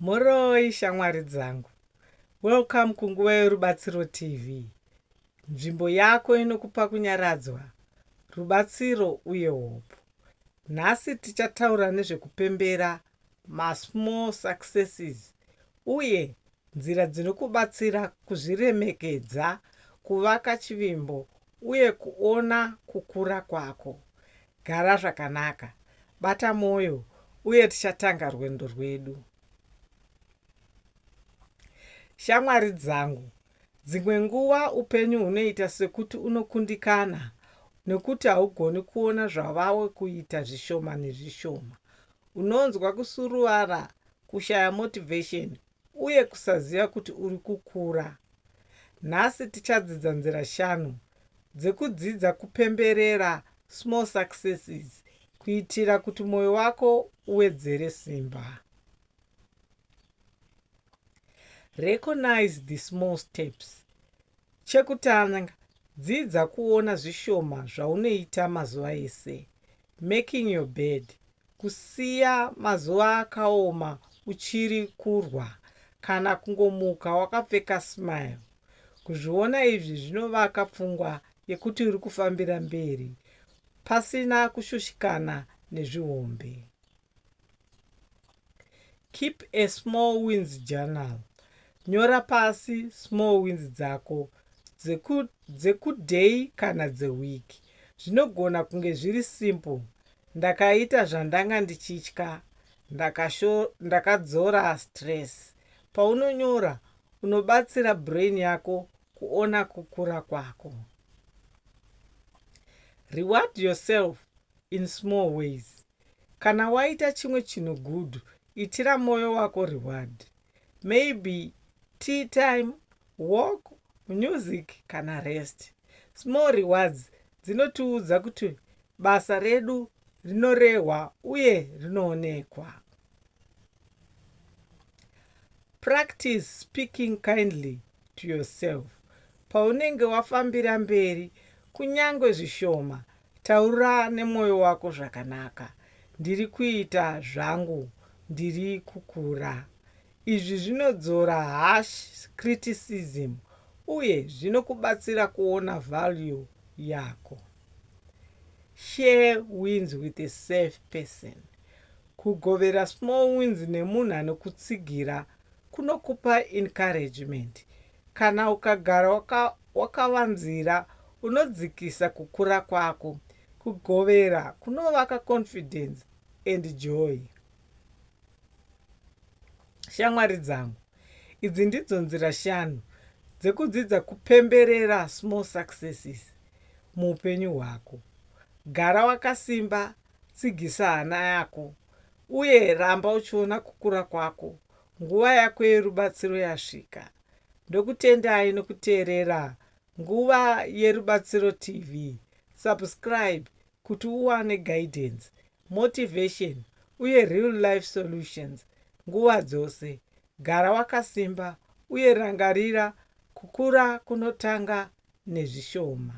Mhoroi shamwari dzangu. Welcome kunguva yorubatsiro TV. Nzvimbo yako inokupa kunyaradzwa, rubatsiro uye hope. Nhasi tichataura nezvekupembera masmall successes uye nzira dzinokubatsira kuzviremekedza, kuvaka chivimbo uye kuona kukura kwako. Gara zvakanaka, bata mwoyo, uye tichatanga rwendo rwedu. Shamwari dzangu, dzimwe nguva upenyu hunoita sekuti unokundikana nekuti haugoni kuona zvavawe kuita zvishoma nezvishoma. Unonzwa kusuruvara, kushaya motivation, uye kusaziva kuti uri kukura. Nhasi tichadzidza nzira shanu dzekudzidza kupemberera small successes kuitira kuti mwoyo wako uwedzere simba. Recognize the small steps. Chekutanga, dzidza kuona zvishoma zvaunoita mazuva ese. making your bed kusiya mazuva akaoma uchiri kurwa kana kungomuka wakapfeka smile. Kuzviona izvi zvinovaka pfungwa yekuti uri kufambira mberi pasina kushushikana nezvihombe. Keep a small wins journal. Nyora pasi small wins dzako dzekuday dzeku kana dzeweek. Zvinogona kunge zviri simple, ndakaita zvandanga ndichitya, ndakadzora ndaka stress. Paunonyora, unobatsira brain yako kuona kukura kwako. Reward yourself in small ways. Kana waita chimwe chinhu good itira moyo wako reward. Maybe tea time, walk, music kana rest. Small rewards dzinotiudza kuti basa redu rinorehwa uye rinoonekwa. Practice speaking kindly to yourself. Paunenge wafambira mberi, kunyange zvishoma Taura nemoyo wako zvakanaka ndiri kuita zvangu ndiri kukura. Izvi zvinodzora harsh criticism uye zvinokubatsira kuona value yako. Share wins with a safe person. Kugovera small wins nemunhu anokutsigira kunokupa encouragement. Kana ukagara waka wakavanzira unodzikisa kukura kwako. Kugovera kunovaka confidence and joy. Shamwari dzangu, idzi ndidzo nzira shanu dzekudzidza kupemberera small successes muupenyu hwako. Gara wakasimba, tsigisa hana yako, uye ramba uchiona kukura kwako nguva yako yerubatsiro yasvika. Ndokutendai nokuteerera Nguva Yerubatsiro TV. Subscribe kuti uwane guidance, motivation uye real life solutions nguva dzose. Gara wakasimba uye rangarira kukura kunotanga nezvishoma.